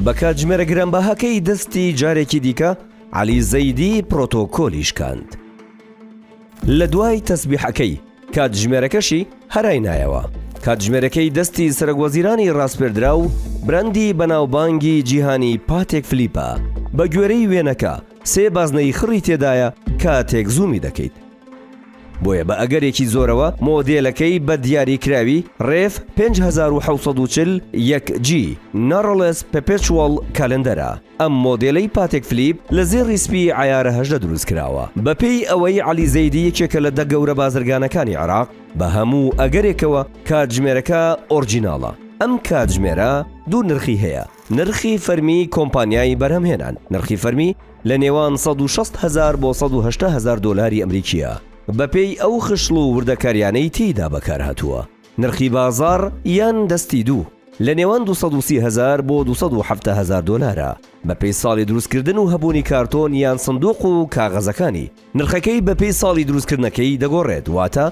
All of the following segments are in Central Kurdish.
بە کاتژمێرە گرانبەهاکەی دەستی جارێکی دیکە عەلی زەیدی پرۆتۆکۆلی شکاند. لە دوای تەسبیحەکەی، کاتژمێرەکەشی هەرای نایەوە. کاتژمێرەکەی دەستی سەرەکوەزیرانی راسپێردراو، براندی بەناوبانگی جیهانی پاتێک فلیپە. بە گوێرەی وێنەکە، سێ بازنەیی خڕی تێدایە کاتێک زوومی دەکەیت بۆیە بە ئەگەرێکی زۆرەوە مۆدێلەکەی بە دیاریکراوی ڕێف 5740 1G Narrowless Perpetual Calendar ە ئەم مۆدێلەی پاتێک فلیپ لە زێڕی سپی عەیارە هەژدە دروست کراوە بەپێی ئەوەی عەلی زەیدی یەکێکە لە دە گەورە بازرگانەکانی عێراق بە هەموو ئەگەرێکەوە کاتژمێرەکە ئۆرجیناڵە ئەم کاتژمێرە دوو نرخی هەیە نرخی فەرمی کۆمپانیای بەرهەمهێنان، نرخی فەرمی لە نێوان سەد و شەست هەزار بۆ سەد و هەشتا هەزار دۆلاری ئەمریکییە، بەپێی ئەو خشڵ و وردەکارییانەی تێیدا بەکارهاتووە. نرخی بازاڕ یان دەستی دوو، لە نێوان دوو سەد و سی هەزار بۆ دوو سەد و حەفتا هەزار دۆلارە، بەپێی ساڵی دروستکردن و هەبوونی کارتۆن یان سندووق و کاغەزەکانی. نرخەکەی بەپێی ساڵی دروستکردنەکەی دەگۆڕێت، واتە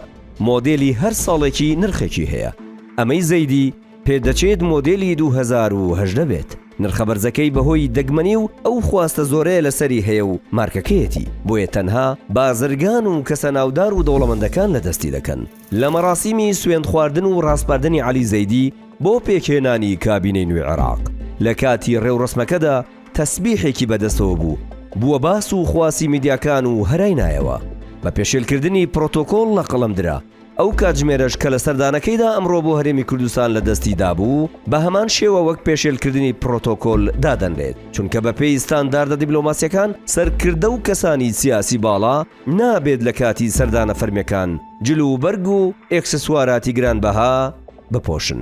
مۆدێلی هەر ساڵێکی نرخێکی هەیە، ئەمەی زەیدی پێدەچێت مۆدێلی دوو هەزار و هەژدە بێت، نرخە بەرزەکەی بەهۆی دەگمەنی و ئەو خواستە زۆرەیە لەسەری هەیە و مارکەکەیەتی، بۆیە تەنها بازرگان و کەسە ناودار و دەوڵەمەندەکان لەدەستی دەکەن. لە مەراسیمی سوێندخواردن و راسپاردنی عەلی زەیدی بۆ پێکهێنانی کابینەی نوێی عێراق، لەکاتی رێوڕەسمەکەدا، تەسبیحێکی بەدەستەوە بوو بووە باس و خواسی میدیاکان و هەرای نایەوە بە پێشێلکردنی پرۆتۆکۆڵ لە قەڵەم درا، ئەو کاتژمێرەش کە لە سەردانەکەیدا ئەمڕۆ بۆ هەرێمی کوردستان لە دەستی دابوو بە هەمان شێوە وەک پێشێلکردنی پرۆتۆکۆل دادەنرێت چونکە بە پێی ستانداردە دیبلۆماسیەکان سەرکردە و کەسانی سیاسی باڵا نابێت لە کاتی سەردانە فەرمیەکان جل و بەرگ و ئێکسسواراتی گرانبەها بپۆشن.